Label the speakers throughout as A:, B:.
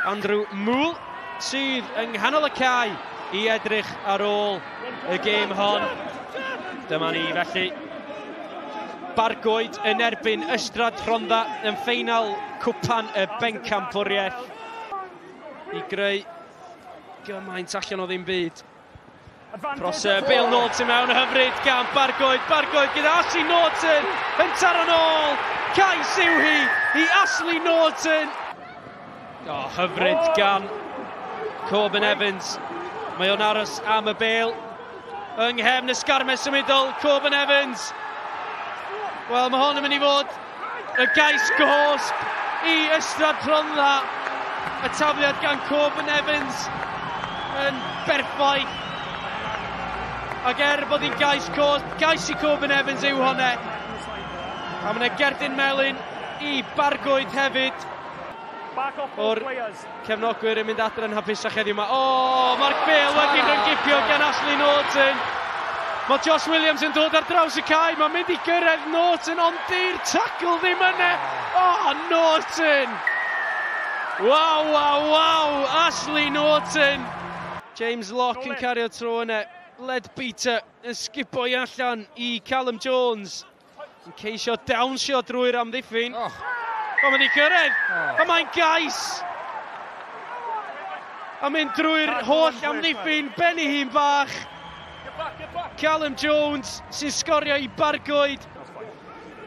A: Andrew Muhl sydd yng nghanol y cae i edrych ar ôl y gêm hon. Dyma ni felly. Bargoed yn erbyn Ystrad Rhondda yn ffeinal Cwpan y Bencampwriaeth i greu gymaint allan o ddim byd. Cross uh, Bale Naughton mewn hyfryd gan Bargoed. Bargoed gyda Ashley Naughton yn taro'n ôl. Cais yw hi i Ashley Naughton. Oh, hyfryd gan Corbin Evans. Mae o'n aros am y bel. Yng nghefn y sgarmes symudol, Corbin Evans. Wel, mae hon yn mynd i fod Y gais gosb i Ystrad Rhondda. Y tafliad gan Corbin Evans yn berffaith. Ac er bod hi'n gais cosb, gais i Corbin Evans yw honne. A mae'n gerdyn melyn i Bargoed hefyd o'r Cefnogwyr yn mynd adre'n hapusach heddiw mae... O! Mark Bale wedi rhyngipio gan Ashley Norton. Mae Josh Williams yn dod ar draws y cae, mae'n mynd i gyrraedd Norton ond di'r tacl ddim yna. O, Norton! Waw, waw, waw! Ashley Norton! James Locke yn cario tro yna. Led Peter yn sgipo i allan i Callum Jones. yn ceisio dawnsio drwy'r amddiffyn. Oh. Mae'n mynd i gyrraedd, oh. a mae'n gais. A mynd drwy'r holl amddiffyn, ben i hun bach. Callum Jones sy'n sgorio i Bargoed.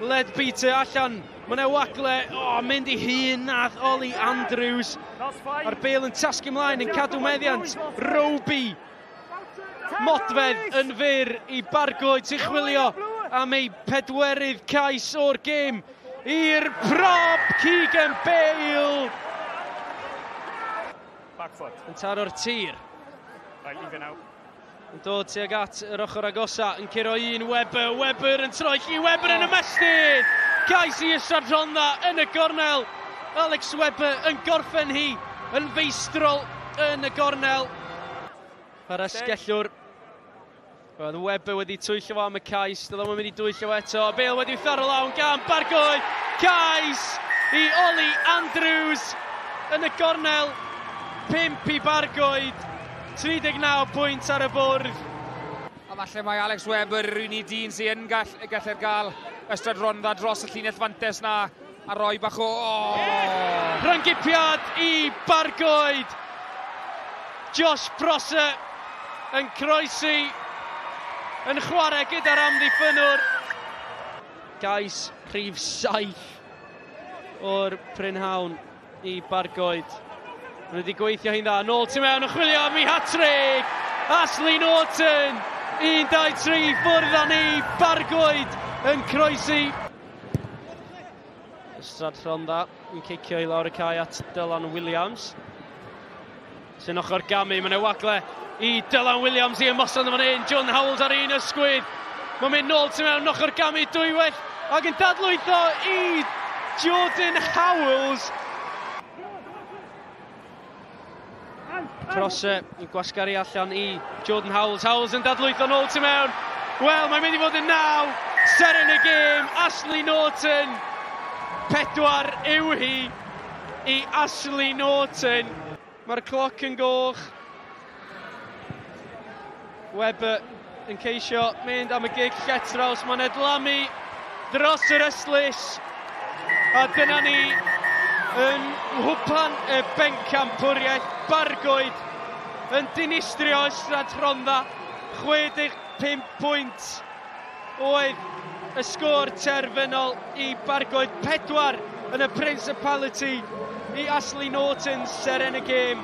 A: Led Peter allan, mae'n ei wagle, o, oh, mynd i hun nath Oli Andrews. A'r bel yn tasgu ymlaen yn cadw meddiant, Roby Modfedd yn fyr i Bargo i chwilio am ei pedwerydd cais o'r gêm i'r prop Keegan Bale. Yn taro'r tir. Yn dod tuag at yr ochr agosa, yn curo un Webber, Webber yn troi chi, Webber yn ymestyn! Cais i Ysad Rhondda yn y gornel. Alex Webber yn gorffen hi yn feistrol yn y gornel. Mae'r esgellwr. Roedd Webber wedi twyll o am y cais. Doedd o'n mynd i dwyll o eto. Bale wedi tharo lawn gan Bargoed. Cais i Oli Andrews yn y gornel. 5 i Bargoed. 39 pwynt ar y bwrdd. A falle
B: mae Alex Webber yr unig dyn sy'n gall, gallu'r gael ystod rondda dros y llinell fantes na A rhoi bach o... Oh! Rhyng-gipiad
A: i Bargoed. Josh Prosser yn croesi, yn chwarae gyda'r amddiffynwr. Gais rhif 7 o'r prynhawn i Bargoed. Maen wedi gweithio hi'n dda. Nôl tu mewn yn chwilio am ei hatrig. Ashley Norton, 1-2-3 ffwrdd â ni. Bargoed yn croesi. Ystrad Rhondda yn cicio i lawr y cae at Dylan Williams. Sy'n ochr gamu, mae'n ei wagle i Dylan Williams i ymosod yn fan hyn. John Howells ar un ysgwydd. Mae'n mynd nôl tu mewn ochr gamu dwywaith ac yn dadlwytho i Jordan Howells. Cross uh, i gwasgaru allan i Jordan Howells. Howells yn dadlwytho nôl tu mewn. Wel, mae'n mynd i fod yn naw. Ser yn y gêm, Ashley Norton. Pedwar yw hi i Ashley Norton. Mae'r cloc yn goch. Webber yn ceisio mynd am y gig lletraws, mae'n edlamu dros yr eslys. A dyna ni yn nghwpan y bencampwriaeth bargoed yn dinistrio Ystrad Rhondda 65 pwynt. oedd y sgôr terfynol i bargoed pedwar yn y Principality i Ashley Norton seren y gêm.